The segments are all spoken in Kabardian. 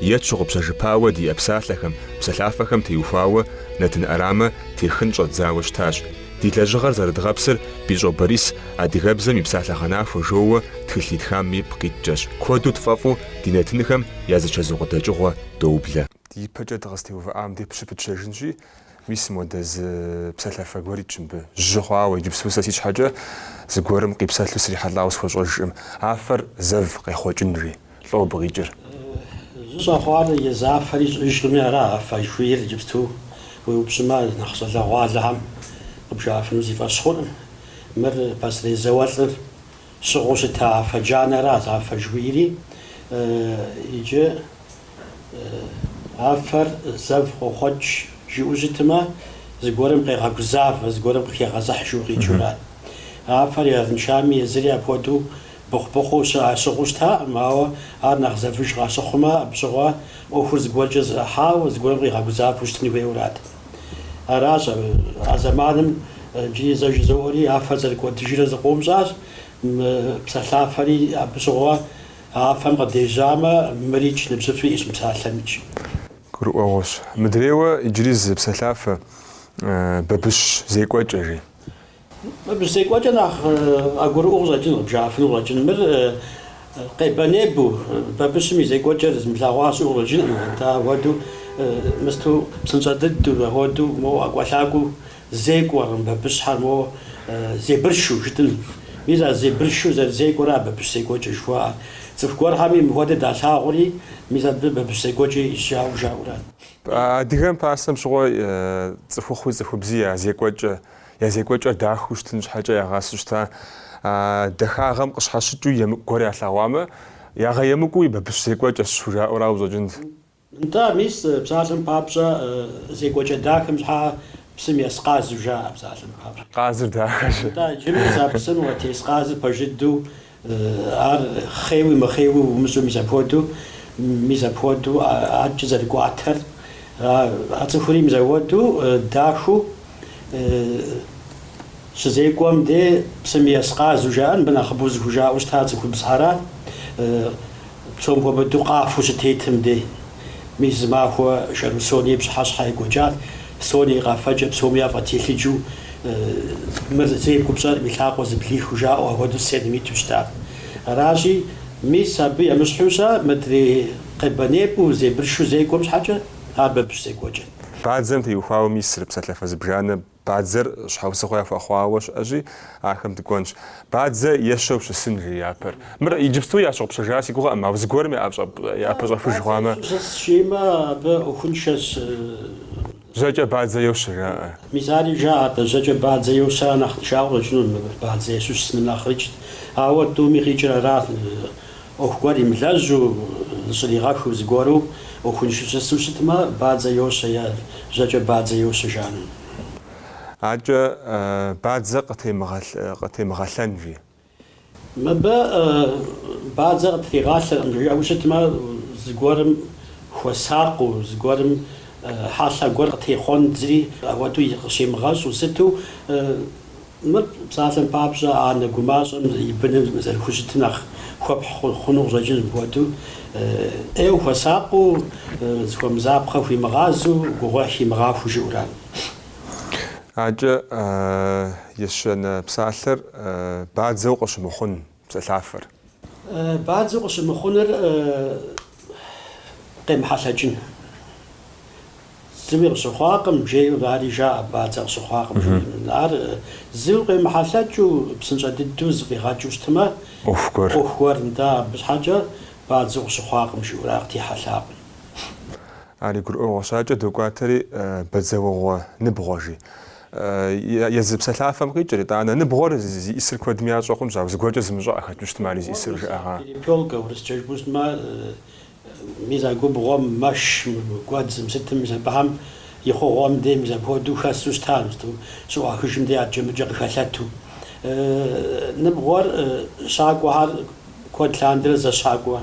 Е тщыгъупщэжыпауэ диӏэ псалъэхэм, псалъафэхэм теухуауэ нэтын ӏэрамэ техын щӏэдзауэ щытащ. Ди лэжьыгъэр зэрыдгъэпсыр Бищӏо Борис адыгэбзэм и псалъэгъэнахуэ жоуэ тхылъ итхам ипкъ иткӏэщ. Куэду тфӏэфӏу ди нэтынхэм я зичэзу къыдэкӏыгъуэ доублэ. Ди ипэкӏэ дыкъызытеувыӏам де щыпытщэжынщи, Мис модэ зы псалъафэ гуэр итщ мыбы жьы хъуауэ, иджыпсту сэ си щхьэкӏэ зыгуэрым къипсэлъу срихьэлӏауэ схуэщӏэжкъым, афэр зэв къехъуэкӏынри, лӏо абы къикӏыр. Жьы щӏэхъуар езы афэри щыӏэжкъыми ара афэ жыхуиӏэр, иджыпсту уеупщӏымэ, нэхъ щӏалэгъуалэхэм къыбжаӏэфыну си фӏэщ хъуркъым. Мыр пасэрей зауэлӏым щыгъыу щыта афэ джанэра афэ жыхуиӏэри. Иджы Афэр зэв къохъуэкӏ, жиӏэу щытмэ, зыгуэрым къегъэгузавэ, зыгуэрым къыхегъэзыхь жыу къикӏыурат. Афэр арыншами, езыри апхуэдэу быхъу-быхъуу ящыгъыу щытакъым, ауэ ар нэхъ зэвыж къащыхъумэ, абы щыгъуэ ӏуэхур зыгуэркӏэ зэӏыхьауэ, зыгуэрым къигъэгузавэу щытын хуейуэрат. Аращ а зэманым иджыри зэ жызоӏэри, афэр зэрыкӏуэдыжрэ зыкъом щӏащ, мы псалъафэри абы щыгъуэ. Афэм къыдежьамэ, мырикӏ ныбжьыфӏи иӏэщ мы псалъэмикӏ. Гурыӏуэгъуэщ. Мыдрейуэ иджыри зы псалъафэ бабыщ зекӏуэкӏэ, жи. Бабыщ зекӏуэкӏэ нэхъ къагурыӏуэу къыщӏэкӏын, къыбжаӏэфыну къыщӏэкӏын. Мыр къебэнебэу, бабыщым и зекӏуэкӏэр зымылъагъуа щыӏэу къыщӏэкӏынкъым. Атӏэ, апхуэдэу мысту псынщӏэ дыдэу, апхуэдэу моуэ ӏэкӏуэлъакӏуэу Зекӏуэркъым бабыщхьэр, моуэ зебыршу жытӏын. Мис а зебыршу зэрызекӏуэра бабыщ зекӏуэкӏэ жыхуаӏэр. Цӏыху гуэрхэми мыхуэдэ далъагъури, мис абы бабыщ зекӏуэкӏэ ищӏауэ жаӏэурат. Адыгэм пасэм щыгъуэ цӏыхухъуи цӏыхубзи я зекӏуэкӏэ, я зекӏуэкӏэр дахэу щытын щхьэкӏэ ягъасэу щыта. А дахагъэм къыщхьэщыкӏыу емыкӏу гуэр ялъэгъуамэ, ягъэемыкӏуу бабыщ зекӏуэкӏэщ жыхужаӏэу арауэ къыщӏэкӏынт. Нтӏэ, мис, псалъэм папщӏэ, зекӏуэкӏэ дахэм щхьэкӏэ псым ес къазу жаӏэ псалъэм папщӏэ? Къазыр дахэщ. Нтӏэ, иджыри мис а псым моуэ тес къазыр пэж дыдэу, ар хъеуи мыхъеуи умыщӏэу, мис апхуэдэу, мис апхуэдэу адэкӏэ зэрыкӏуатэр, а цӏыхури мис апхуэдэу дахэу щызекӏуэм де псым ес къазу жаӏэр мыбы нэхъыбэу зыхужаӏэу щыта цӏыхубзхьэра, Псом хуэмыдэу къафэу щытетым дей, мис зымахуэ Шэру Соня и пщыхьэщхьэ екӏуэкӏат. Соня и къафэкӏэ псоми яфӏэтелъыджэу, мыр зэи къэпщӏэркъым и лъакъуэ зэблихыу жаӏэу ахуэдэу сценэм иту щытат. Аращи, мис абы емыщхьу щэ мыдрей къебэнебэу зебыршу зекӏуэм щхьэкӏэ ар бабыщ зекӏуэкӏэт. Бадзэм теухуауэ мис ари псалъафэ зыбжанэ Бадзэр щхьэусыгъуэ яхуэхъуауэ щыӏэщи, ахэм дыкӏуэнщ. Бадзэ ещэу щысын, жи япэр. Мыр иджыпсту ящыгъупщэжа си гугъэкъым, ауэ зыгуэрым япэщӏэхуж хъуамэ. Бадзэ щысщ жимэ, абы ӏуэхуншэщ. Жьэкӏэ бадзэ йощэ, жаӏэ. Мис ари жаӏэ атӏэ, жьэкӏэ бадзэ йощэ ар нэхъ тыншауэ къыщӏынут, мыбы бадзэ ещэу щысыным нэхърэкӏэ. Ауэ тӏуми къикӏыр арат. ӏуэху гуэр имылэжьу, зыщӏригъэхыу зыгуэру ӏуэхуншэу щысу щытмэ, бадзэ йощэ е жьэкӏэ бадзэ йощэ жаӏэну. Адэкӏэ бадзэ къытемыгъэлъэн, жи. Мыбы бадзэ къытригъалъэркъым жиӏэу щытмэ, зыгуэрым хуэсакъыу, зыгуэрым хьэлъэ гуэр къытехъуэн, зыри апхуэдэу къыщемыгъэщӏу сыту. Мыр псалъэм папщӏэ, анэ гумащӏэм и быным зэрыхущытым нэхъ хуэпхь хъуну къыщӏэкӏынщ, мыпхуэдэу ӏейуэ хуэсакъыу, зыхуэмызапхъэ хуимыгъазэу, гугъуехь химыгъахуэу жиӏэу арат. Адэкӏэ, ещанэ псалъэр бадзэу къыщымыхъун псэлъафэр. Бадзэу къыщымыхъуныр къемыхьэлъэкӏын. Зыуи къыщыхъуакъым, жейуэ ари жаӏэ, бадзэ къыщыхъуакъым. Ар зыуи къемыхьэлъэкӏыу, псынщӏэ дыдэу зыфӏигъэкӏыу щытмэ, ӏуэху гуэр. ӏуэху гуэр, нтӏэ, абы щхьэкӏэ бадзэу къыщыхъуакъым жиӏэурэ ар къытехьэлъакъым. Ари гурыӏуэгъуэщ, адэкӏэ докӏуатэри бадзэуэгъуэ ныбгъуэ жи. Езы псэлъафэм къикӏыр, итӏанэ, ныбгъуэр зи ӏисыр куэдым ящӏэ хъунщ, ауэ зыгуэркӏэ зымыщӏэ къыхэту щытмэ, ари зи ӏисыр жыӏэгъа? Перепелка, урысчэ жыпӏэу щытмэ, мис а губгъуэм, мэш, гуэдзым, сытым, мис абыхэм и хъугъуэм де мис апхуэдэу хэсу щытащ, мысту щыӏуахыжым де адэкӏэ-мыдэкӏэ къыхэлъэту. Ныбгъуэр щакӏуэхэр куэд лъандэрэ зэщакӏуэ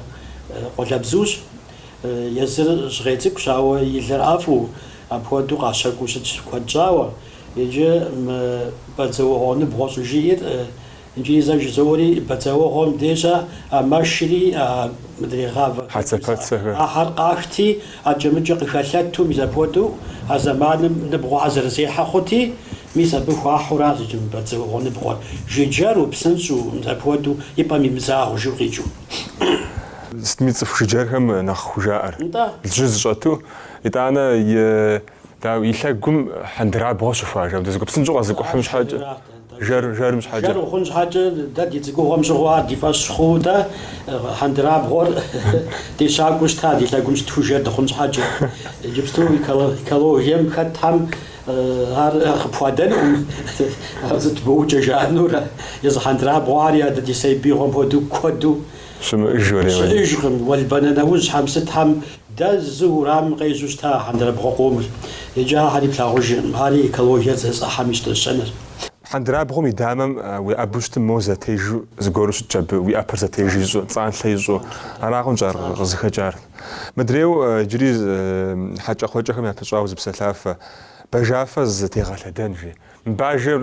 къуалэбзущ, Езыр жьгъей цӏыкӏущ, ауэ и лыр ӏэфӏу, апхуэдэу къащэкӏуу щытщ куэд щӏауэ. Иджы мы бадзэуэгъуэ ныбгъуэ щӏыжиӏэр иджыри зэ жызоӏэри бадзэуэгъуэм деж, а мэшри, а мыдрей гъавэхэр, Хьэцэпэцэхэр. Ахэр къахти, адэкӏэ-мыдэкӏэ къыхэлъэту, мис апхуэдэу а зэманым ныбгъуэхьэр зэрызехьэ хъути, мис абы хуахьу аращ иджы мы бадзэуэгъуэ ныбгъуэр, жыджэру, псынщӏэу, мис апхуэдэу и пӏэм имызагъыу жиӏэу къикӏыу. Сытми цӏыху жыджэрхэм нэхъ хужаӏэр. Лжьы зыщӏэту, итӏанэ дау и лъэгум хьэндырабгъуэ щыхуа, жаӏэ, мыбдежь гупсынщӏэу къэзыкӏухьым щхьэкӏэ, жэр, жэрым щхьэкӏэ. Жэр ухъун щхьэкӏэ, дэ ди цӏыкӏугъуэм щыгъуэ ар ди фӏэщ хъууэ дэ хьэндырабгъуэр ди щакӏуэу щытат, и лъэгум щытхуэу жэр дыхъун щхьэкӏэ. Иджыпсту экологием хэтхэм Ар къыпхуадэнукъым, ар сыт букӏа жаӏэнурэ, езы хьэндырабгъуэри, адэ ди сабиигъуэм хуэдэу куэду щыӏэжкъым. Уэлбанэ нэужьхьэм сытхьэм дэзу уэрамым къежьэу щыта а хьэндырабгъуэ къомыр. Иджы ахэр иплъагъужыркъым, ари экологиер зэӏыхьэм и щтӏэщэныр. Хьэндырабгъуэм и дамэм уеӏэбу щытым моуэ зэтежу зыгуэру щытщ абы, уи ӏэпэр зэтеж ищӏу, цӏанлъэ ищӏу. Арагъэнщ ар къызыхэкӏар. Мыдрейуэ иджыри хьэкӏэкхъуэкӏэхэм япыщӏауэ зы псэлъафэ, бажафэ зытегъэлъэдэн, жи. Мы бажэр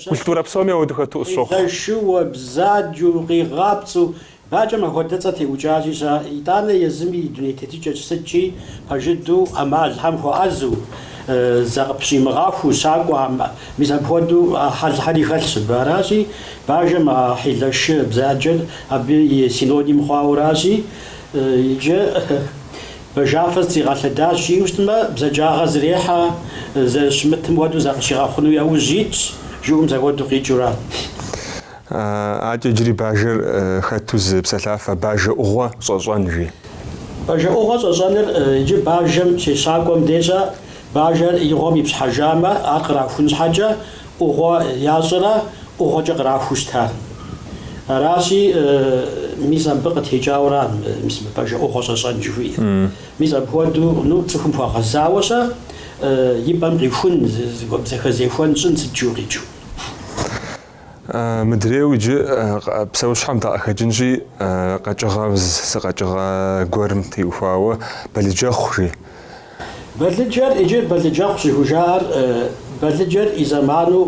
культурэ псоми ауэду хэту къысщохъу. Хьилэшыуэ, бзаджэу, къигъапцӏэу, бажэм ахуэдэ цӏэ теӏукӏащи щыӏэ. Итӏанэ езыми и дуней тетыкӏэкӏ сыткӏи пэж дыдэу, ӏэмалхьэм хуэӏэзэу, закъыпщӏимыгъахуэу щакӏуэ. Мис апхуэдэу хьэлхьэри хэлъщ абы. Аращи, Бажэм а хьилэшы бзаджэр абы и синоним хъуауэращи, иджы бажафэ зытригъэлъэдащ, жиӏэу щытмэ, бзаджагъэ зэрехьэ, зэрыщымытым хуэдэу закъыщигъэхъуну яужь итщ, жиӏэу мис ахуэдэу къикӏыура. Акӏэ иджыри бажэр хэту зы псэлъафэ, бажэӏугъуэ щӏэщӏэн, жи. Бажэӏугъуэ щӏэщӏэныр иджы бажэм щещакӏуэм дежкӏэ, бажэр и гъуэм ипщхьэжамэ, ар кърахун щхьэкӏэ, ӏугъуэ ящӏэрэ ӏугъуэкӏэ кърахуу щытар. Аращи, мис абы къытекӏауэра мис мы бажэ ӏугъуэ щӏэщӏэн жыхуиӏэр. Мис апхуэдэу, ну, цӏыхум хуэгъэзауэ щэ и пӏэм къихун, зэхэзехуэн щӏын сыт жиӏэу къикӏыу. Мыдрейуэ иджы псэущхьэм дакъыхэкӏынщи, къэкӏыгъэ, зы къэкӏыгъэ гуэрым теухуауэ, бэлыджэхъу, жи. Балыджэр иджы бэлыджэхъу щӏыхужаӏэр балыджэр и зэману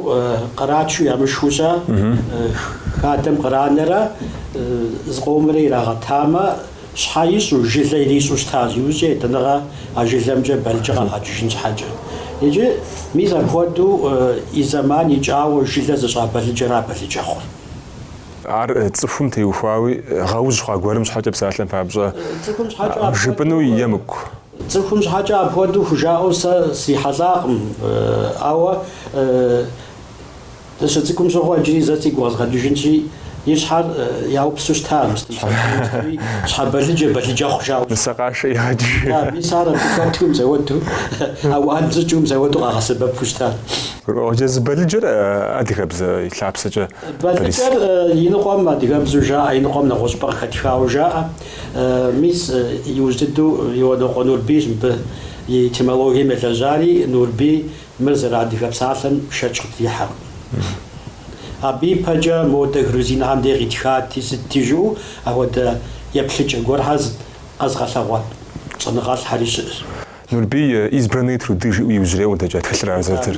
къратчу ямышхыу щӏэ, хадэм къранэрэ зыкъомрэ ирагъэтамэ, щхьэ ищӏу, жылэ ирищӏу щытащ, иужькӏэ етӏанэгъэ а жылэмкӏэ балыджэ къагъэкӏыжын щхьэкӏэ. Иджы мис апхуэдэу и зэман икӏауэ жылэ зыщӏа балыджэра бэлыджэхъур. Ар цӏыхум теухуауи, гъэужь хъуа гуэрым щхьэкӏэ псалъэм папщӏэ, цӏыхум щхьэкӏэ апхуэдэу жыпӏэну емыкӏу. Цӏыхум щхьэкӏэ апхуэдэу хужаӏэу сэ срихьэлӏакъым, ауэ дыщыцӏыкӏум щыгъуэ иджыри зэ сигу къэзгъэкӏыжынщи, и щхьэр яупсу щытамэ, щхьэбэлыджэ, бэлыджэхъу жаӏэу. Нысэкъашэ игъэкӏыжыну. Да, мис ар абы хэту мис ауэду, ауан щӏыкӏэу мис ауэду къагъэсэбэпу щытащ. Езы бэлыджэр адыгэбзэ и лъапсэкӏэ бэлыджэр и ныкъуэм адыгэбзэу жаӏэ, и ныкъуэм нэгъуэщӏыпӏэ къыхэтхауэ жаӏэ. Мис, иужь дыдэу Иуанокъуэ Нурбийщ мыбы и этимологием елэжьари, Нурбий мыр зэрыадыгэ псалъэм шэч къытрихьэркъым. Абы ипэкӏэ модэ грузинхэм де къитхати, сытти жыӏэу апхуэдэ еплъыкӏэ гуэрхэр зыт къэзыгъэлъагъуэ щӏэныгъэлӏхэри щыӏэщ. Нурбий, Избранные труды жыӏэу иужьрей къыдэкӏа тхылъыра зэрытыр.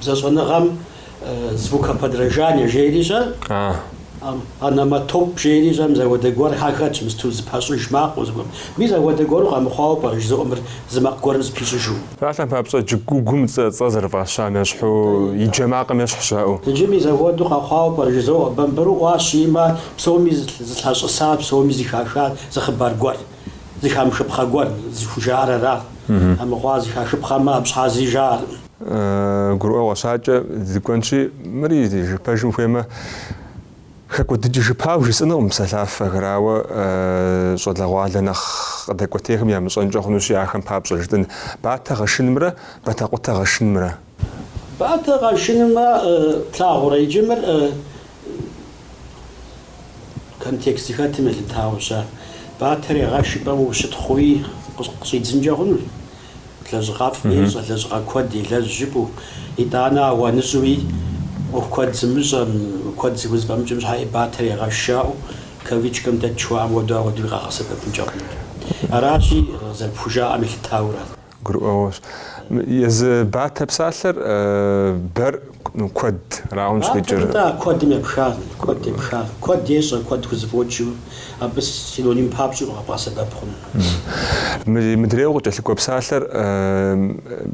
Бзэщӏэныгъэм звукоподражание жери щыӏэ, ономатоп жери щыӏэ, мис ахуэдэ гуэр яхэтщ, мысту зыпэщӏыж макъыу зыгуэрым. Мис ахуэдэ гуэру къэмыхъуауэ пӏэрэ жызоӏэ мыр зы макъ гуэрым зыпищӏыжу? Псалъэм папщӏэ кӏыгуугум цӏэ зэрыфӏащам ещхьу и джэ макъым ещхь жаӏэу. Иджы мис ахуэдэу къэхъуауэ пӏэрэ жызоӏэ, бамбыру ӏуащ жиӏэмэ псоми зылъащӏысар, псоми зыхахар зы хъыбар гуэр, зыхамыхыпхъэ гуэр зыхужаӏэр арат. Амыхъуамэ зыхахыпхъэмэ, абы щхьа зыри жаӏэркъым. Гурыӏуэгъуэщ, адэкӏэ дыкӏуэнщи, мыри пэжым хуеймэ, хэкӏуэдыкӏ жыпӏэу жысӏэнукъым псалъафэхэр, ауэ щӏалэгъуалэ нэхъ къыдэкӏуэтейхэм ямыщӏэнкӏэ хъунущи, ахэм папщӏэ жытӏын, Батэ гъэшынымрэ Батэкъутэ гъэшынымрэ. Батэ гъэшынымэ плъагъурэ иджы мыр контекст зыхэтым елъытауэщ. Батэр егъэш жыпӏэм ущытхъууи къыщӏидзынкӏэ хъунущ. Лэжьыгъэфӏ ещӏэ, лэжьыгъэ куэд елэжь жыпӏэу. Итӏанэ ауаныщӏэуи ӏуэху куэд зымыщӏэм, куэд зыхузэфӏэмыкӏым щхьэ Батэр егъэш жаӏэу кавычкэм дэт жыхуаӏэм хуэдэу ауэдэуи къагъэсэбэпынкӏэ хъунут. Аращи, зэрыпхужаӏэм елъытаурэ. Гурыӏуэгъуэщ. Езы Батэ псалъэр бэр. Ну, куэдырагъэнщ къикӏыр. Атӏэ, атӏэ, куэдым епхащ, куэд епхащ. Куэд ещӏэ, куэд хузэфӏокӏыу, абы синоним папщӏэу къэбгъэсэбэп хъунущ. Мы мыдрейуэ къыкӏэлъыкӏуэ псалъэр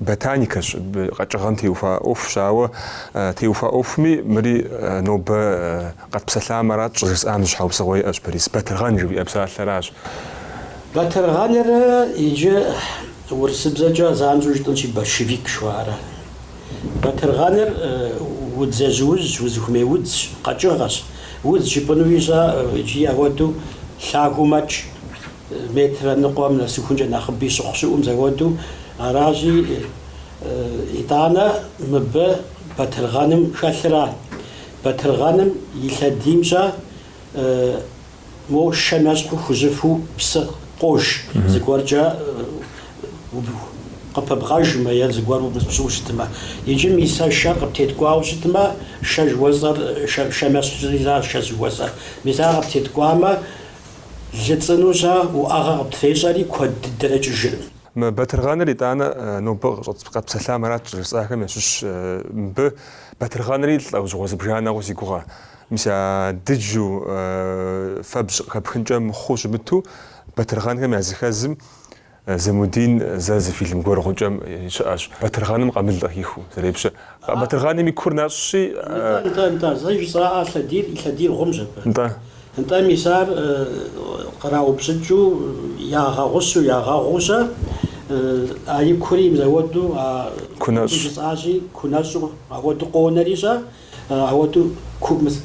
ботаникэщ, къэкӏыгъэм теухуа ӏуэхущ, ауэ теухуа ӏуэхуми мыри нобэ къэтпсэлъам арат щӏыжысӏам зы щхьэусыгъуэ иӏэщ, Борис, батыргъэн жыхуиӏэ псалъэращ. Батыргъэныр иджы урысыбзэкӏэ занщӏэу жытӏэнщи, борщевик жыхуаӏэрат. Батыргъэныр удз ежьужьщ, узыхуэмей удзщ, къэкӏыгъэщ. Удз жыпӏэну ищӏа иджыри ауэдэу, лъагэу мэкӏ, метрэ ныкъуэм нэсыхункӏэ нэхъыби щыхъу щыӏэу, мис ауэдэу. Аращи, итӏанэ мыбы батыргъэным хэлъырат. Батыргъэным и лъэдиймкӏэ Мо шэм ещхьу хужьыфэу псы къож, зыгуэркӏэ къыпыбгъэжмэ е зыгуэр умыпщӏыу щытмэ. Иджы мис а шэр къыптеткӏуауэ щытмэ, шэ жыхуэсӏэр, шэм ещхьщи шэ жыхуэсӏэр. Мис ар къыптеткӏуамэ, лы цӏыну щӏа уӏэгъэ къыптрещӏэри, куэд дыдэрэ кӏыжыркъым. Мы Батыргъэныр итӏанэ нобэ къэтпсэлъам арат щӏыжысӏахэм ящыщщ. Мыбы Батыргъэнри лӏэужьыгъуэ зыбжанэ хъуу си гугъэ. Мис а дыджу фэбжь къыхэпхынкӏэ мыхъуу щымыту, батыргъэнхэм я зыхэзым Замудин зэ зы фильм гуэр Гъукӏэм щыӏэщ, батыргъэным къамыл къыхихыу зэрепщэ. Батыргъэным и кур нэщӏщи, Нтӏэ, нтӏэ, нтӏэ, зэ жысӏаӏэ, лъэдийр лъэдий гъумщ абы. Нтӏэ. Нтӏэ, мис ар къраупщӏыкӏыу, ягъэгъущу, ягъэгъуу-щэ, а и кури мис ауэду, а кур жысӏащи, кунэщӏу ауэду къонэри-щэ? Ауэдэу мис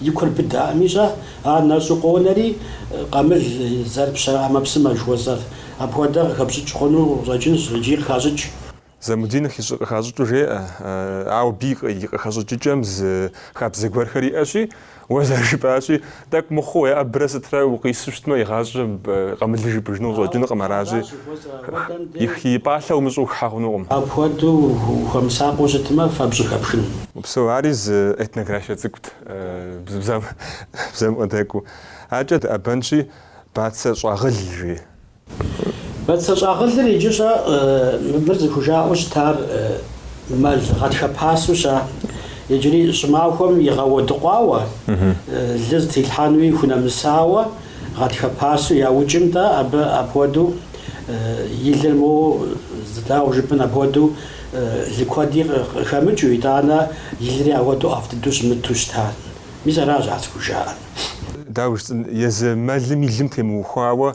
и кур быдаӏэми щӏэ, ар нэщӏу къонэри, къамыл зэрыпщэ ӏэмэпсымэ жыхуэсӏэр. Апхуэдэ къыхэпщӏыкӏ хъуну щӏэкӏынщ икӏи къыхащӏыкӏ. Замудин къыхащӏыкӏыу жеӏэ, ауэ абы и къыхэщӏыкӏыкӏэм зы хабзэ гуэрхэр иӏэщи, Уэ зэрыжыпӏащи, тӏэкӏу мыхъуу, уеӏэбрэ сытрэ укъису щытмэ, игъащӏэ къамылыр жыпӏыжыну щӏэкӏынукъым, аращи, и пӏалъэ умыщӏэу ухыхьэ хъунукъым. Апхуэдэу ухуэмысакъыу щытмэ, фэбжь хэпхын. Псо, ари зы этнографие цӏыкӏут, бзэм къыдэкӏуэу. Акӏэ дыӏэбэнщи, Бацэ щӏагъыл жи, Бацэ щӏагъылыр иджы щӏэ мыбыр зыхужаӏэу щытар мэл гъатхэ пасэу ща, иджыри щӏымахуэм игъэуэдыкъуауэ, лы зытилъхьэнуи хунэмысауэ гъатхэ пасэу яукӏым-тӏэ абы апхуэдэу и лыр моуэ дауэ жыпӏэн апхуэдэу лы куэди къыхэмыкӏыу, итӏанэ и лыри ауэдэу ӏэфӏ дыдэу щымыту щытар. Мис аращ ар зыхужаӏэр. Дауэ жысӏэн, езы мэлым и лым темыухуауэ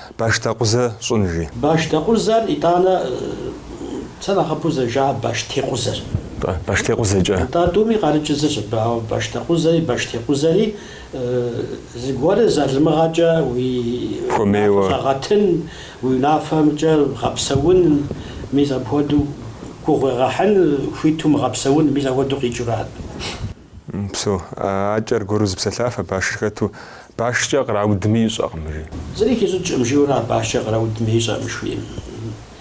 Башдэкъузэ щӏын, жи. Башдэкъузэр итӏанэ сэ нэхъыбэу зэрыжаӏэр Баштекъузэр. Баштекъузэкӏэ. Нтӏэ, тӏуми къарыкӏыр зыщ абы, ауэ башдэкъузэри, баштекъузэри зыгуэрыр залымыгъэкӏэ уи унафэ щӏэгъэтын, уи унафэмкӏэ гъэпсэун, мис апхуэдэу гугъуегъэхьын хуиту мыгъэпсэун, мис апхуэдэу къикӏыурат. Псо, акӏэ аргуэру зы псэлъафэ, а башыр хэту, башкӏэ къраудми ищӏэкъым, жи. Зыри хищӏыкӏкъым, жиӏэурэ а башкӏэ къраудми ищӏэкъым жыхуиӏэм.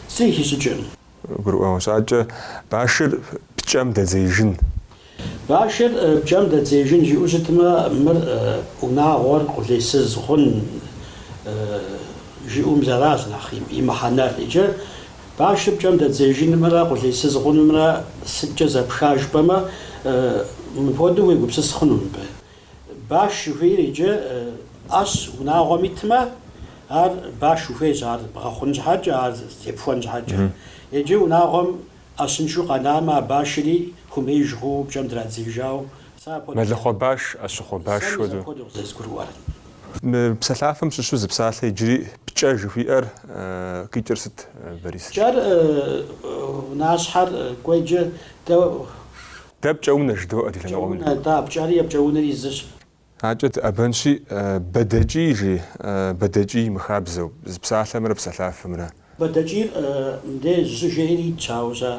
Зыри хищӏыкӏкъым. Гурыӏуэгъуэщ. Акӏэ, башыр пкӏэм дэдзеижын. Башыр пкӏэм дэдзеижын жиӏэу щытмэ, мыр унагъуэр къулейсыз хъун жиӏэу мис аращ нэхъ и мыхьэнэр. Иджы Башыр пкӏэм дэдзеижынымрэ къулейсыз хъунымрэ сыткӏэ зэпха жыпӏэмэ, мыпхуэдэу уегупсыс хъуну мыбы. Баш жыхуиӏэр иджы ӏэщ унагъуэм итмэ, ар баш ухуейщ ар бгъэхъун щхьэкӏэ, ар зепхуэн щхьэкӏэ. Иджы унагъуэм ӏэщыншэу къэнамэ, а башри хуэмеиж хъууэ пкӏэм драдзеижауэ Мэлыхъуэ баш, ӏэщыхъуэ баш хуэдэу. Мы псалъафэм щыщу зы псалъэ иджыри пкӏэ жыхуиӏэр къикӏыр сыт, Борис? Пкӏэр унащхьэр кӏуеджэ дэ. Дэ пкӏэунэ жыдоӏэ ди лъэныкъуэм. Пкӏэунэ, да, пкӏэри е пкӏэунэри зыщ. Адэкӏэ дыӏэбэнщи, Бэдэкӏий, жи, Бэдэкӏий, мыхабзэу, зы псалъэмрэ псалъафэмрэ. Бэдэкӏийр мыдэ жьы жери итщ, ауэ сэ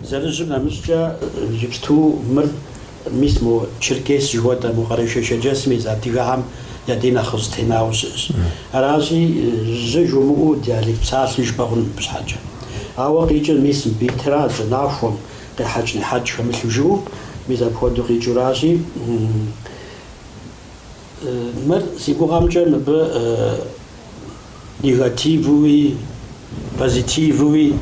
зэрыжьым нэмыщӏкӏэ иджыпсту мыр мис мо Черкес жыхуэтӏэ, мо Къэрэшей-Шэрджэсым ис адыгэхэм я дей нэхъ зэтенауэ щыӏэщ. Аращи, жьы жумыӏэу диалект псалъи жыпӏэ хъуну мыбы щхьэкӏэ. Ауэ къикӏыр мис мыбы итра, жьы нахуэм, къехьэкӏ-нехьэкӏ хэмылъу жыӏэу, мис апхуэдэу къикӏыуращи. Мыр, си гугъэмкӏэ, мыбы негативуи, позитивуи,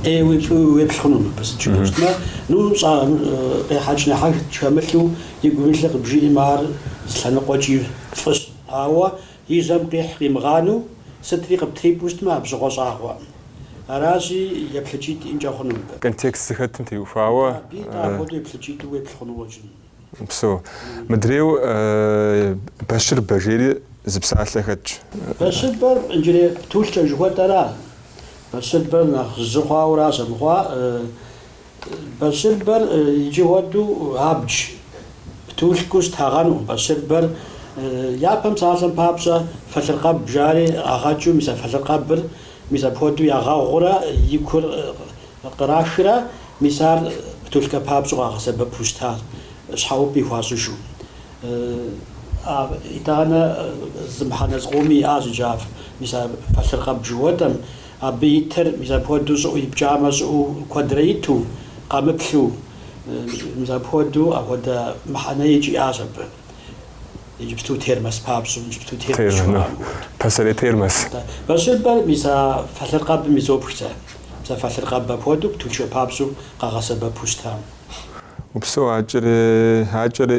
ӏейуи, фӏыуи уеплъ хъуну мыбы, сыту щытмэ. Ну, щӏа, къехьэкӏ-нехьэкӏ хэмылъу, игум илъыр къыбжиӏэм, ар зы лъэныкъуэкӏи фӏыщ. Ауэ и жьэм къихь къимыгъанэу, сытри къыптрипӏэу щытмэ, абы щыгъуэ щӏагъуэ. Аращи, еплъыкӏитӏ иӏэнкӏэ хъуну мыбы. Контекст зыхэтым теухуауэ. Абы итӏэ апхуэдэу еплъыкӏитӏу уеплъ хъуну къыщӏэкӏын. Упсо. Мыдрейу бащырбэ жери зы псалъэ хэтщ. Бащырбэр иджырей птулъкӏэ жыхуэтӏэра? Бащырбэр нэхъ жьы хъуауэра щӏэмыхъуа? Бащырбэр иджы хуэдэу абдж птулъкӏэу щытагъэнукъым. Бащырбэр япэм псалъэм папщӏэ фэлъыркъэб жари къагъэкӏыу мис а фэлъыркъэбыр мис апхуэдэу ягъэгъурэ и кур Кърахрэ, мис ар птулъкӏэ папщӏэу къагъэсэбэпу щытащ, щхьэӏупӏи хуащӏыжу. А итӏанэ зы мыхьэнэ зыкъоми иӏащ иджы ар, мис а фэлъыркъэб жыхуэтӏэм, абы итыр, мис апхуэдэу щӏыӏэу ипкӏамэ, щӏыӏэу куэдрэ иту, къэмыплъу, мис апхуэдэу апхуэдэ мыхьэнэ икӏ иӏащ абы. Иджыпсту термос папщӏэу, иджыпсту термос жыхуаӏэм хуэдэу. Пасэрей термос. Бащырбэр мис а фэлъыркъэбым изопх сэ. Мис а фэлъыркъэб апхуэдэу птулъкӏэ папщӏэу къагъэсэбэпу щытам. Упсэу акӏэрэ, акӏэрэ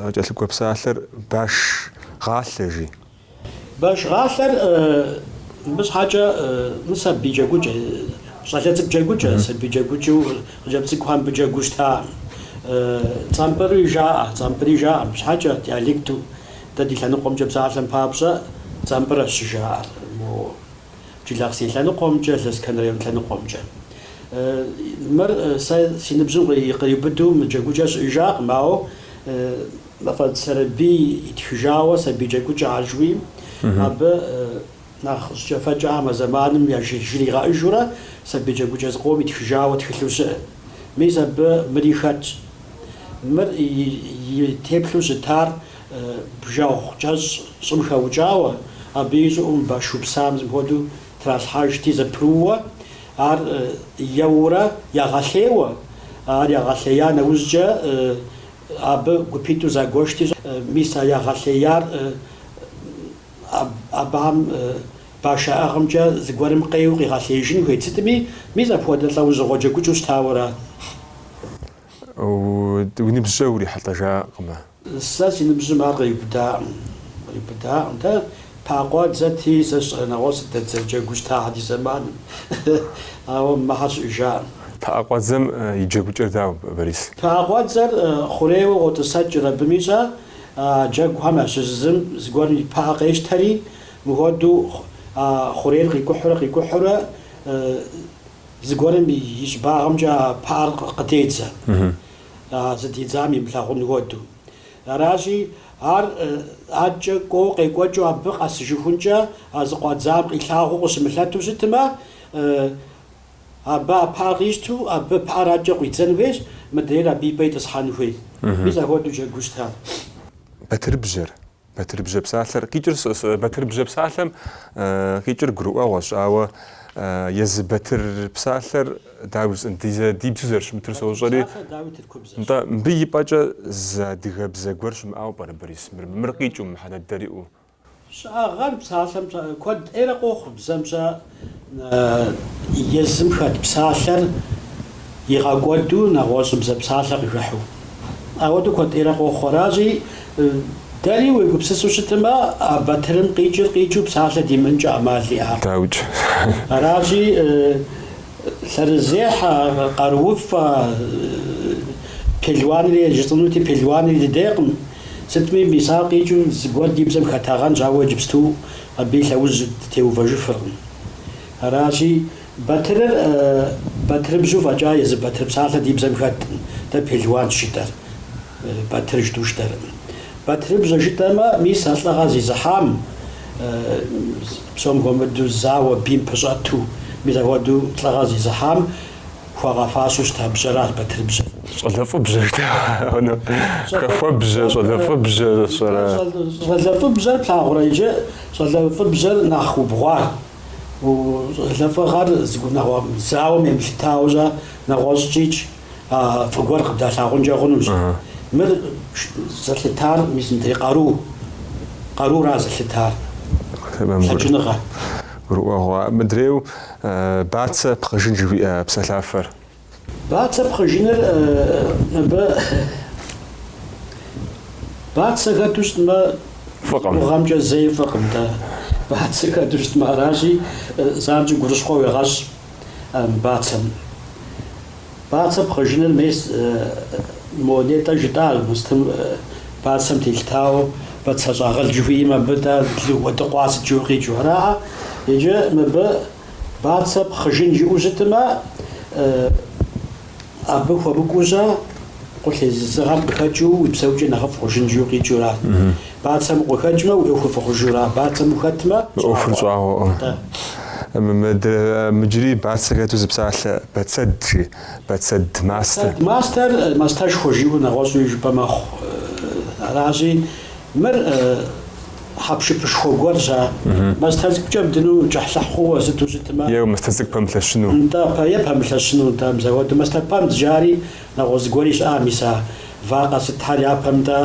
къыкӏэлъыкӏуэ псалъэр баш гъалъэ жи. Баш гъалъэр мыбы щхьэкӏэ, мы сабий джэгукӏэ, щӏалэ цӏыкӏу джэгукӏэ, сабий джэгукӏэу. Хъыджэбз цӏыкӏухэр мыбы джэгуу щытакъым. Цӏампӏыри жаӏэ, цӏампӏыри жаӏэ мыбы щхьэкӏэ, диалекту. Дэ ди лъэныкъуэмкӏэ псалъэм папщӏэ, цӏампӏырэщ щыжаӏэр мо Джылахъсей лъэныкъуэмкӏэ, Лэскэн район лъэныкъуэмкӏэ. Мыр сэ си ныбжьым къриубыду мы джэгукӏэр щыӏэжакъым, ауэ Мафӏэдз Сэрэбий итхыжауэ сабий джэгукӏэхэр жыхуиӏэм, абы Нэхъ жьыкӏэфэкӏэхэм а зэманым яжы жригъэӏыжурэ сабий джэгукӏэ зыкъом итхыжауэ тхылъу щыӏэ. Мис абы мыри хэтщ. Мыр и теплъу щытар бжэгъу кӏэщӏ щӏым хэукӏауэ, абы и щӏыӏум баш упсам зы мыхуэдэу тралъхьэжти зэпрууэ, ар еуэурэ ягъэлъеуэ, ар ягъэлъея нэужькӏэ абы гупитӏу загуэшти щӏэ, мис а ягъэлъеяр Абыхэм баш яӏыгъымкӏэ зыгуэрым къеуэу къигъэлъеижын хуейт сытми, мис апхуэдэ лӏэужьыгъуэ джэгукӏэу щытауэра? Уи ныбжькӏэ урихьэлӏэжакъымэ? Сэ си ныбжьым ар къриубыдакъым. Къриубыдакъым. Дэ пыӏэкъуэдзэти, сэ сщӏэрэ нэгъуэщӏ сыт дызэджэгуу щытахэр ди зэманым. Ауэ мыхьэр щыӏэжакъым. Пыӏэкъуэдзэм и джэгукӏэр дауэ, Борис? Пыӏэкъуэдзэр хъурейуэ къотӏысэкӏыр абыми щӏэ? А джэгухэм ящыщ зым зыгуэрым и пыӏэ къещтэри, мыхуэдэу а хъурейр къикӏухьурэ къикӏухьурэ зыгуэрым и щӏыбагъымкӏэ а пыӏэр къыдедзэ, зыдидзам имылъагъун хуэдэу. Аращи, ар адэкӏэ кӏуэуэ къекӏуэкӏыу абы къэсыжыхункӏэ а зыкъуадзам къилъагъуу къыщымылъэту щытмэ, Абы а пыӏэр къищту абы пыӏэр адэкӏэ къуидзэн хуейщ, мыдрейр абы и пӏэ итӏысхьэн хуей. Мис ахуэдэу джэгуу щытар. Батырыбжьэр. Батырыбжьэ псалъэр къикӏыр сыт. Батырыбжьэ псалъэм къикӏыр гурыӏуэгъуэщ, ауэ езы Батыр псалъэр дауи жысӏэн, ди зэ ди бзэу зэрыщымытыр сощӏэри. Батыр псалъэр дауи тыркубзэщ. Нтӏэ, мыбы и пӏэкӏэ зы адыгэбзэ гуэр щымыӏэу пӏэрэ Борис? Мыр, мыр къикӏыу, мыхьэнэ дыдэр иӏэу. Щыӏагъэнщ псалъэм куэд ӏейрэ къохъу, бзэм щӏэ езым хэт псалъэр игъэкӏуэду нэгъуэщӏыбзэ псалъэ къыхыхьэу. Ауэдэу куэд ӏейрэ къохъу. Аращи, дэри уегупсысу щытмэ, а батырым къикӏыр къикӏыу псалъэ димыӏэнкӏэ ӏэмал иӏакъым. Дауикӏ. Аращи. Лъэрызехьэ, къарууфӏэ, пелуанри жысӏэнути, пелуанри дыдейкъым. Сытми, мис ар къикӏыу зыгуэр ди бзэм хэтагъэнщ, ауэ иджыпсту абы и лъэужь дытеувэжыфыркъым. Аращи, Батырыр батырыбжьэу фӏэкӏа езы батыр псалъэ ди бзэм хэткъым, дэ пелуанщ жытӏэр, батыр жытӏэу щытакъым. Батырыбжьэ жытӏэмэ, мис а лӏыгъэр зезыхьам, Псом хуэмыдэу зауэ бийм пэщӏэту, мис апхуэдэу лӏыгъэ зезыхьам хуагъэфащэу щыта бжьэращ Батырыбжьэр. Щӏалэфӏыбжьэщ дэ хъуну, Хахуэбжьэ, Щӏалэфӏыбжьэ зыщӏэрэ? Щӏалэфӏыбжьэр плъагъурэ иджы, щӏалэфӏыбжьэр нэхъ убгъуар, щӏалэфӏыгъэр зыгуэр нэгъуэщӏ зауэм емылъытауэ щӏэ, нэгъуэщӏкӏикӏ. а фӏы гуэр къыбдалъагъункӏэ хъунущ. Мыр зэлъытар мис мыдрей къару, къарура зэлъытар, лъэкӏыныгъэ. Гурыӏуэгъуэ. Мыдрейу бацэ пхъыжын жыхуиӏэ псалъафэр. Бацэ пхъыжыныр мыбы бацэ хэту щытмэ, Фӏыкъым. гугъэмкӏэ зэи фӏыкъым, дэ. Бацэ хэту щытмэ, аращи, занщӏэу гурыщхъуэ уегъэщӏ. бацэм. Бацэ пхъыжыныр мес мо нетӏэ жытӏа устым бацэм телъытауэ бацэ щӏагъыл жыхуиӏэм абы тӏэ уэдыкъуа сыт жыу къикӏу араӏэ. Иджы мыбы бацэ пхъыжын жиӏэу щытымэ Абы хуэмыкӏуэу-щэ, къулейсызыгъэм къыхэкӏыу уи псэукӏэ нэхъыфӏ хъужын жыу къикӏыура? Бацэм укъыхэкӏмэ, уи ӏуэхур фӏы хъужыура? Бацэм ухэтмэ, щӏагъуэ. ӏуэхур щӏагъуэкъым. Атӏэ. Иджыри бацэ хэту зы псалъэ Бацэд, жи, Бацэд мастэ. Бацэд мастэр, мастэшхуэ жиӏэу нэгъуэщӏуи жыпӏэ мэхъу. Аращи, мыр. Хьэпшыпышхуэ гуэр зэ. Мастэ цӏыкӏукӏэ бдыну кӏыхьлӏыхь хъууэ сыту щытмэ. Е, мастэ цӏыкӏу пэмылъэщыну. Нтӏэ, пэ, е пэмылъэщыну, нтӏэ, мис ахуэду мастэпэбдз жари нэгъуэщӏ зыгуэри щыӏэ, мис а вакъэ сытхэр япэм нтӏэ,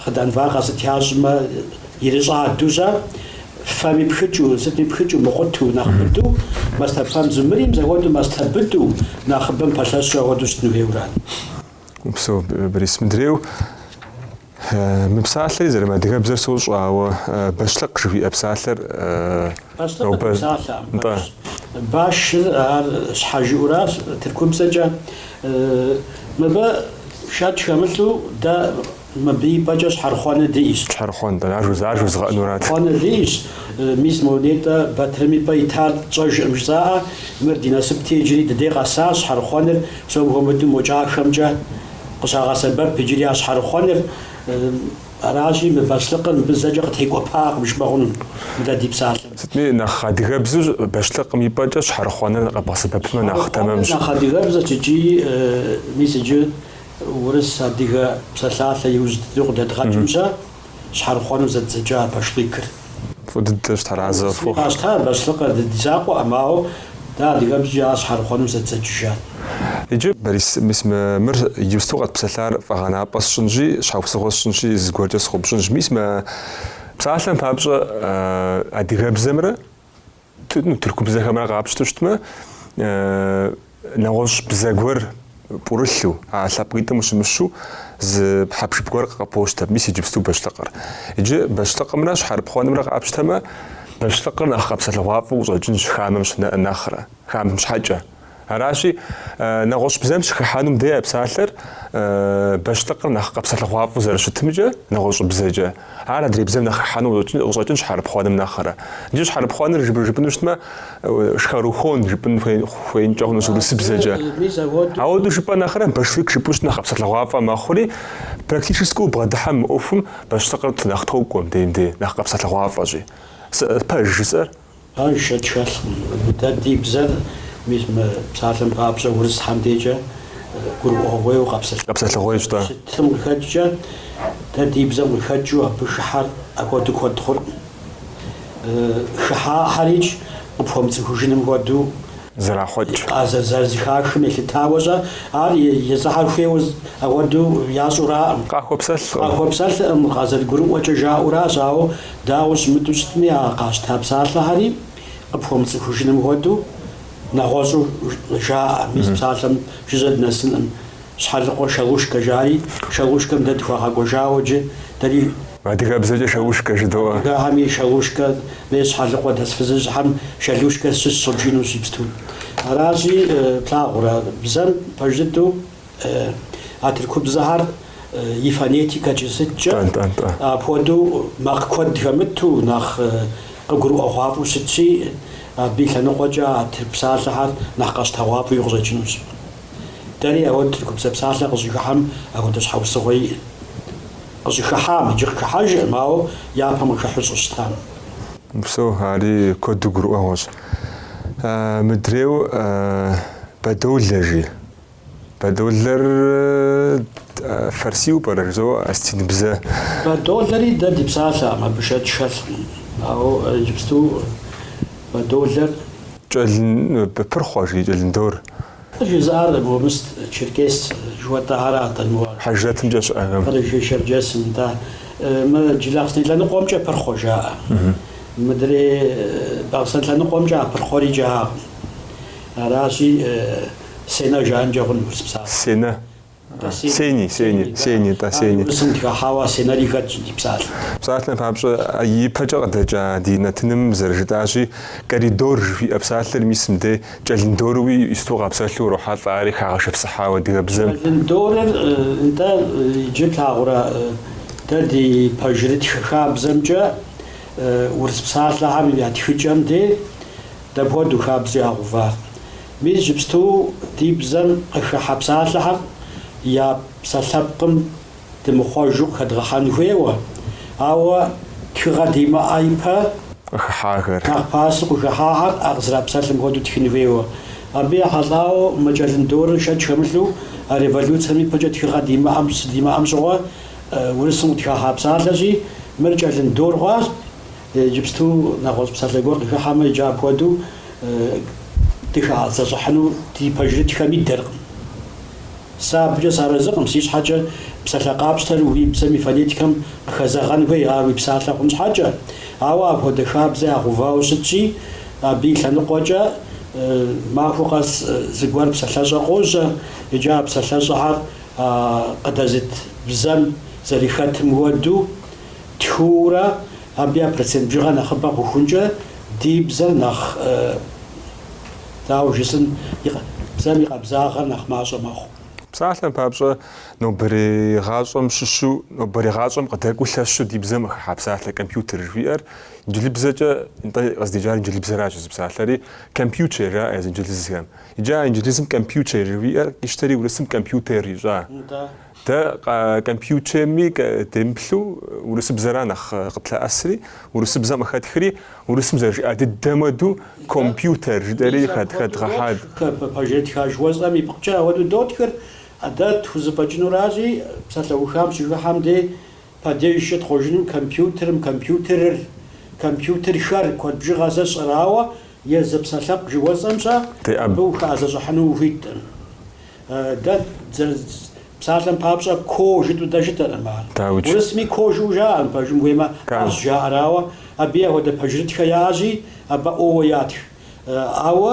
хъыдан вакъэ сыт ящӏмэ, ирыщӏаду-щэ, фэми пхыкӏыу, сытми пхыкӏыу, мыкъуту, нэхъ быду, мастэпэбдзу мыри, мис ахуэду мастэ быду, нэхъыбэм пэлъэщу, ахуэду щытыну хуейуэ ара? Упсэу, Борис, мыдрейу. Мы псалъэри зэрымыадыгэбзэр сощӏэ, ауэ бащлъыкъ жыхуиӏэ псалъэр Бащлъыкъ нобэ- псалъэ. Нтӏэ. Башыр ар щхьэ жиӏуращ тыркубзэкӏэ. Мыбы шэч хэмылъу дэ мыбы и пӏэкӏэ щхьэрыхъуэныр диӏэщ. Щхьэрыхъуэ, нтӏэ, ар жуза- ар жузгъэӏэнурат. Щхьэрыхъуэныр диӏэщ. Мис мо нетӏэ Батырым и пӏэ итар тщӏэжкъым жысӏаӏэ, мыр ди насыпти иджыри дыдей къэсащ щхьэрыхъуэныр, псом хуэмыдэу мо кӏахэмкӏэ. къыщагъэсэбэп иджыри а щхьэрыхъуэныр. Аращи, мы бащлъыкъыр мыбы зэкӏэ къытекӏуэпакъым жыпӏэ хъуну дэ ди псалъэм. Сытми, нэхъ адыгэбзу бащлъыкъым и пӏэкӏэ щхьэрыхъуэныр къэбгъэсэбэпмэ нэхъ тэмэмщ. Щхьэрыхъуэныр нэхъ адыгэбзэщ икӏи, мис иджы урыс-адыгэ псалъалъэ иужь дыдэу къыдэдгъэкӏым-щэ, щхьэрыхъуэну зэддзэкӏа башлыкыр. Фӏы дыдэщ Тэрэзщ Сыри фӏыгъ. къащтэ бащлъыкъыр, ди ди закъуэкъым, ауэ дэ адыгэбзэкӏи ар щхьэрыхъуэну зэддзэкӏыжат. Иджы, Борис, мис мы, мыр иджыпсту къэтпсэлъар фӏэгъэнапӏэ сщӏынщи, щхьэусыгъуэ сщӏынщи, зыгуэркӏэ сыноупщӏынщ. Мис мы псалъэм папщӏэ адыгэбзэмрэ ну, тырку бзэхэмрэ къапщту щытмэ, нэгъуэщӏ бзэ гуэр пӏурылъу, а лъэпкъитӏым ущымыщу зы пхьэпшып гуэр къы- къэпощтэ, мис иджыпсту бащлъыкъыр. Иджы бащлъыкъымрэ щхьэрыпхъуэнымрэ къапщтэмэ, бащлъыкъыр нэхъ къэпсэлъыгъуафӏэу къыщӏэкӏынщ хамэм щ- нэхърэ, хамэм щхьэкӏэ. Аращи, нэгъуэщӏ бзэм щыхыхьэнум де а псалъэр бащлъыкъыр нэхъ къэпсэлъыгъуафӏэу зэрыщытымкӏэ, нэгъуэщӏ бзэкӏэ. Ар адрей бзэм нэхъ хыхьэну къыщӏэкӏынщ щхьэрыпхъуэным нэхърэ. Иджы щхьэрыпхъуэныр жыпӏэну щытмэ, шхарухон жыпӏэн хуеинкӏэ хъунущ урысыбзэкӏэ. Ауэдэу жыпӏэ нэхърэ башлык жыпӏэу щыт нэхъ къэпсэлъыгъуафӏэ мэхъури, практически убгъэдыхьэм мы ӏуэхум бащлъыкъыр нэхъ токӏуэ мыбдеж-мыбдей, нэхъ къэпсэлъыгъуафӏэщи. Пэж жысӏэр? Абы шэч хэлъкъым. Дэ ди бзэр мис мы псалъэм папщӏэ урысхэм декӏэ гурыӏуэгъуейуэ къэпсэлъыгъуейуэ. Къэпсэлъыгъуейщ, тӏэ. Щытым къыхэкӏкӏэ, дэ ди бзэм къыхэкӏыу абы хыхьэр апхуэдэу куэд хъуркъым. Хыхьахьэрикӏ къыпхуэмыцӏыхужыным хуэдэу зэрахъуэкӏ. Къазэрызэхахым елъытауэ-щэ, ар езыхьэр хуейуэ ауэдэу ящӏураӏым. Къахуэпсэлъкъым. Къахуэпсэлъкъым, къазэрыгурыӏуэкӏэ жаӏэуращ, ауэ. Дауэ щымыту щытми, а къащта псалъэхэри къыпхуэмыцӏыхужыным хуэдэу нэгъуэщӏу жаӏэ. Мис псалъэм жыжьэ дынэсынкъым. Щхьэлыкъуэ Шалушкэ жари, Шалушкэм дэ дыхуагъэкӏуэжауэ иджы, дэри. Адыгэбзэкӏэ Шалушкэ жыдоӏэ. Адыгэхэми Шалушкэ, мес Щхьэлыкъуэ дэс фызыжьхэм Шалушкэ сыщыщщ жиӏэнущ ипсту. Аращи, плъагъурэ, бзэм пэж дыдэу. А тыркубзэхэр и фонетикэкӏи сыткӏэ апхуэдэу макъ куэд хэмыту, нэхъ къыгурыӏуэгъуафӏэу щытщи, абы и лъэныкъуэкӏэ а тырку псалъэхэр нэхъ къэщтэгъуафӏэуи къыщӏэкӏынущ. Дэри ауэд тыркубзэ псалъэ къыщӏыхыхьэм апхуэдэ щхьэусыгъуэ иӏэщ. Къыщӏыхыхьам иджы къыхыхьэжыркъым, ауэ япэм къыхыхьу щӏыщытам. Псо, ари куэду гурыӏуэгъуэщ. Мыдрейуэ бэдолэ жи. Бэдолэр фарсиу пӏэрэ жызоӏэ, осетинбзэ? Бэдолэри дэ ди псалъэкъым, абы шэч хэлъкъым, ауэ иджыпсту бэдолэр. Кӏэлын пырхъуэ жи кӏэлындор. Къыжызыӏар Гомыст, Черкес жыхуэтӏэ ара атӏэ моуэ? Хьэжрэтымкӏэ щыӏэхэм. Къэрэшей-Шэрджэсым, да, мы Джылахъстэней лъэныкъуэмкӏэ пырхъуэ жаӏэ. Мыдрей Бахъсэн лъэныкъуэмкӏэ а пырхъуэри жаӏэкъым. Аращи. Сенэ жаӏэнкӏэ хъун урыс псалъэ. Сенэ. Сени, сени, сени, да, сени. Урысым дыхахьауэ сенэри хэтщ ди псалъэм. Псалъэм папщӏэ, ипэкӏэ къыдэкӏа ди нэтыным зэрыжытӏащи, коридор жыхуиӏэ псалъэр мис мыдей кӏэлындоруи сыту къапсэлъу урохьэлӏэ, ари хагъэшыпсыхьауэ адыгэбзэм. Кӏэлындорыр, нтӏэ, иджы плъагъурэ, дэ ди пэжырытхэ хабзэмкӏэ урыс псалъэхэм я тхыкӏэм де дапхуэдэу хабзэ ягъэува? Иджыпсту ди бзэм къыхыхьэ псалъэхэм я псалъэпкъым дымыхъуэжу къыхэдгъэхьэн хуейуэ, ауэ тхыгъэ димыӏэ ипэ, къыхыхьахэр. Нэхъ пасэу къыхыхьахэр а къызэрапсэлъым хуэдэу тхын хуейуэ. Абы ехьэлӏауэ мы кӏэлындорыр шэч хэмылъу а революцэм ипэкӏэ тхыгъэ димыӏэм, щыдимыӏэм щыгъуэ урысым къытхахьа псалъэщи, мыр кӏэлындор хъуащ. Иджыпсту нэгъуэщӏ псалъэ гуэр къыхыхьэмэ, иджы апхуэдэу дыхэӏэзэщӏыхьыну ди пэжырытхэм идэркъым. Сэ абыкӏэ сарэзыкъым, си щхьэкӏэ псалъэ къапщтэр уи бзэм и фонетикэм къыхэзэгъэн хуей, ар уи псалъэ хъун щхьэкӏэ. Ауэ апхуэдэ хабзэ ягъэувауэ щытщи, абы и лъэныкъуэкӏэ махуэ къэс зыгуэр псалъэщӏэ къожьэ, иджы а псалъэщӏэхэр къыдэзыт бзэм зэрыхэтым хуэдэу, Тхыурэ абы я процент бжыгъэ нэхъыбэ хъухункӏэ ди бзэр нэхъ, дауэ жысӏэн, бзэм и къабзагъэр нэхъ мащӏэ мэхъу. Псалъэм папщӏэ, нобэрей гъащӏэм щыщу, нобэрей гъащӏэм къыдэкӏуэу лъэщу ди бзэм къыхыхьа псалъэ компьютер жыхуиӏэр инджылыбзэкӏэ, нтӏэ къыздикӏар инджылыбзэращ езы псалъэри, компьючер жаӏэ езы инджылызхэм. Иджы а инджылызым компьючер жыхуиӏэр къищтэри урысым компьютер ищӏа. Нтӏэ. Дэ компьютерми демыплъу урысыбзэра нэхъ къытлъэӏэсри, урысыбзэм къыхэтхри, урысым зэрыжиӏа дыдэм уэду компьютер жытӏэри хэдгъэхьа. Ди пэжырытхэ жыхуэсӏэм ипкъкӏэ ауэду дотхыр. А дэ тхузэфӏэкӏынуращи, псалъэухам щыхыхьэм дей Падежкӏэ тхъуэжынум компьютерым, компьютерыр, компьютерхэр куэд бжыгъэ зэщӏыр, ауэ, езы псалъэпкъ жыхуэсӏэмкӏэ абы ухэӏэзэщӏыхьыну ухуиткъым. Дэ псалъэм папщӏэ ко жытӏу дэ жытӏэркъым ар. Урысми ко жыӏэу жаӏэкъым, пэжым хуеймэ а жаӏэр, ауэ, абыи апхуэдэ пэжырытхэ яӏэщи, абы о-уэ ятх. Ауэ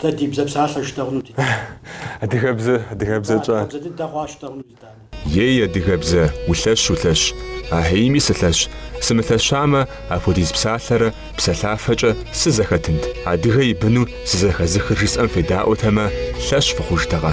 Дэ ди бзэ псалъэ жыдэхъуну ди Дани. Адыгэбзэ, адыгэбзэ тщӏа? Адыгэбзэ дыдэ хъуа щыдэхъуну ди Дани. Ей, адыгэбзэ, улъэщ, улъэщ. Ахьеими сылъэщ. Сымылъэщамэ, апхуэдиз псалъэрэ псэлъафэкӏэ сызэхэтынт. Адыгэ и быну сызэхэзыхыр жысӏэм федаӏуэтэмэ, лъэщ фыхъужтэкъэ?